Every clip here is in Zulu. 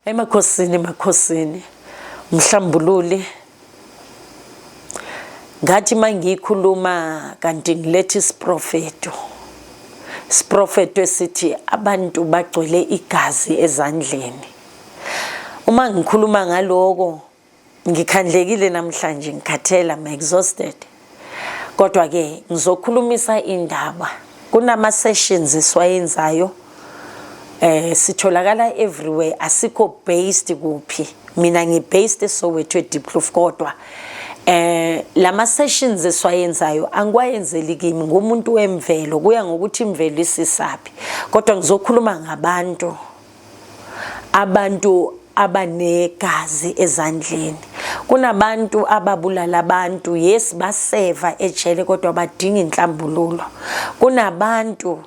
Emakhosini makhosini mhlambululi ngathi mangikhuluma kanti ngilethe isiprofeto isiprofeto esithi abantu bagcwele igazi ezandleni uma ngikhuluma ngaloko Ngikhandlekile namhlanje ngikhathele I'm exhausted. Kodwa ke ngizokhulumisa indaba. Kunama sessions esiwayenzayo eh sitholakala everywhere asikho based kuphi. Mina ngi based eSoweto eDiepkloof kodwa eh lama sessions esiwayenzayo angikwayenzeli kimi ngumuntu wemvelo kuya ngokuthi imvelo isisaphi kodwa ngizokhuluma ngabantu abantu abanegazi ezandleni kunabantu ababulala abantu yes baseva ejele kodwa badinga inhlambululo kunabantu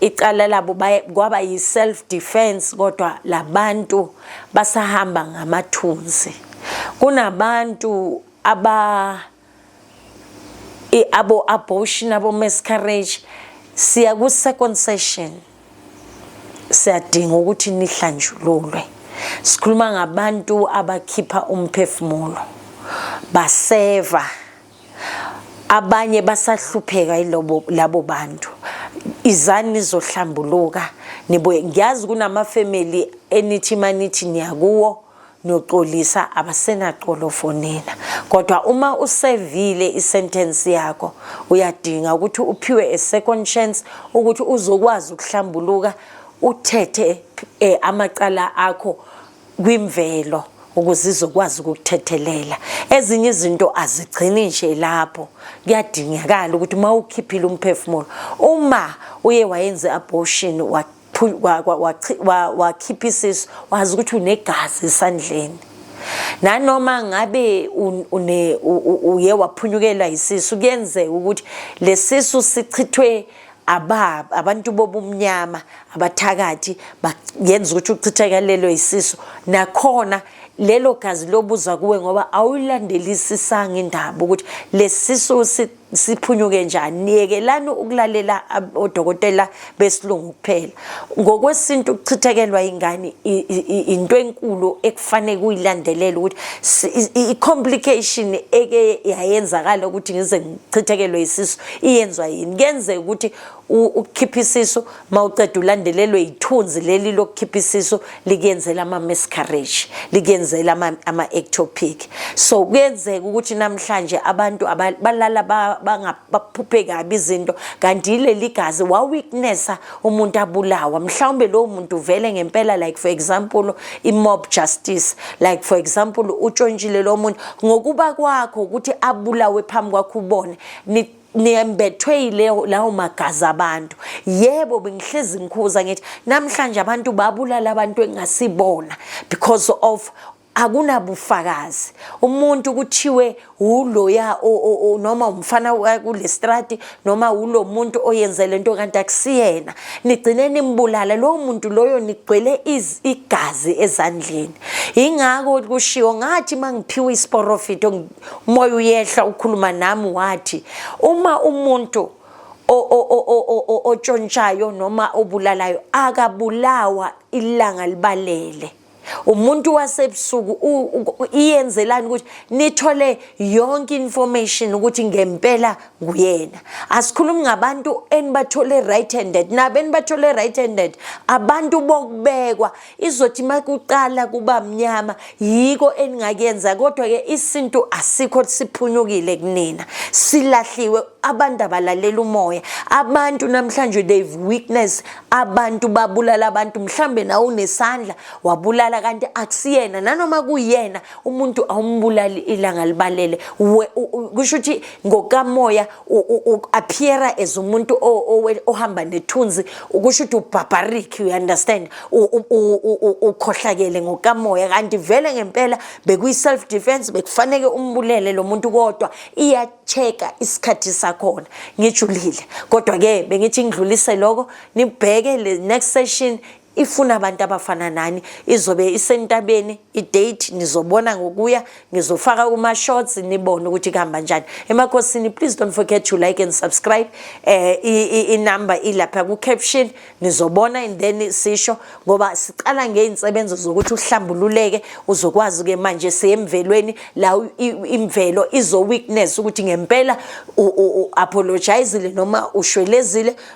icala labo kwaba yi-self defense kodwa labantu basahamba ngamathunzi kunabantu aba abo abortion abo miscarriage siya ku second session siyadinga ukuthi nihlanjululwe sikhuluma ngabantu abakhipha umphefumulo baseva abanye basahlupheka ilobo labo bantu izani nizohlambuluka nibuye ngiyazi kunama family enithi manithi niyakuwo noxolisa abasenaxolofo nina kodwa uma usevile isentence yakho uyadinga ukuthi uphiwe a second chance ukuthi uzokwazi ukuhlambuluka uthethe eh, amacala akho kwimvelo ukuze izokwazi ukukuthethelela ezinye izinto azigcini nje lapho kuyadingakala ukuthi uma ukhiphile umphefumulo uma uye wayenze abortion wakhipha isisu wazi ukuthi unegazi esandleni nanoma ngabe une uye waphunyukelwa isisu kuyenzeka ukuthi lesisu sichithwe ababa abantu bobumnyama abathakathi yenza ukuthi uchithakalelwe isisu nakhona lelo gazi lobuza kuwe ngoba awuyilandelisisanga indaba ukuthi lesisu siphunyuke njani yekelani ukulalela odokotela besilungu kuphela ngokwesintu ukuchithekelwa ingane into enkulu ekufanele kuyilandelela ukuthi i-complication eke yayenzakala ukuthi ngize ngichithekelwe isisu iyenzwa yini kuyenzeka ukuthi ukukhipha isisu mawuceda ulandelelwe yithunzi leli lokukhipha isisu likuyenzela ama miscarriage likuyenzela ama, ama ectopic so kuyenzeka ukuthi namhlanje abantu balala baphuphe kabi izinto kanti leli gazi wa weaknessa umuntu abulawa mhlawumbe lowo muntu vele ngempela like for example i mob justice like for example utshontshile lo muntu ngokuba kwakho ukuthi abulawe phambi kwakho ubone niyembethwe yileyo lawo magazi abantu yebo bengihlezi ngikhuza ngithi namhlanje abantu babulala abantu engasibona because of akunabufakazi umuntu kuthiwe uloya noma umfana kulestrati noma ulo muntu oyenze lento kanti akusiyena nigcine nimbulala lowo muntu loyo nigcwele igazi ezandleni ingakho kushiwo ngathi mangiphiwa isiporofito umoya uyehla ukhuluma nami wathi uma umuntu otshontshayo noma obulalayo akabulawa ilanga libalele umuntu wasebusuku iyenzelani ukuthi nithole yonke information ukuthi ngempela nguyena asikhulumi ngabantu enibathole right handed nabo enibathole right handed abantu bokubekwa izothi makuqala kuba mnyama yiko eningakuyenza kodwa ke isintu asikho siphunyukile kunina silahliwe abantu abalalela umoya abantu namhlanje they've weakness abantu babulala abantu mhlambe nawe unesandla wabulala kanti akusiyena nanoma kuyena umuntu awumbulali ilanga libalele kusho ukuthi ngokamoya u-appeara as umuntu ohamba nethunzi ukusho ukuthi ubarbaric you understand ukhohlakele ngokamoya kanti vele ngempela bekuyi-self defense bekufaneke umbulele lo muntu kodwa iya-check-a isikhathi sakhona ngijulile kodwa-ke bengithi ngidlulise loko nibheke le next session ifuna abantu abafana nani izobe isentabeni idate nizobona ngokuya ngizofaka kuma shorts nibone ukuthi kuhamba njani emakhosini please don't forget to like and subscribe eh i number ilapha ku caption nizobona and then sisho ngoba siqala ngeinsebenzo zokuthi uhlambululeke uzokwazi ke manje siyemvelweni la imvelo izo witness ukuthi ngempela u apologize noma ushwelezile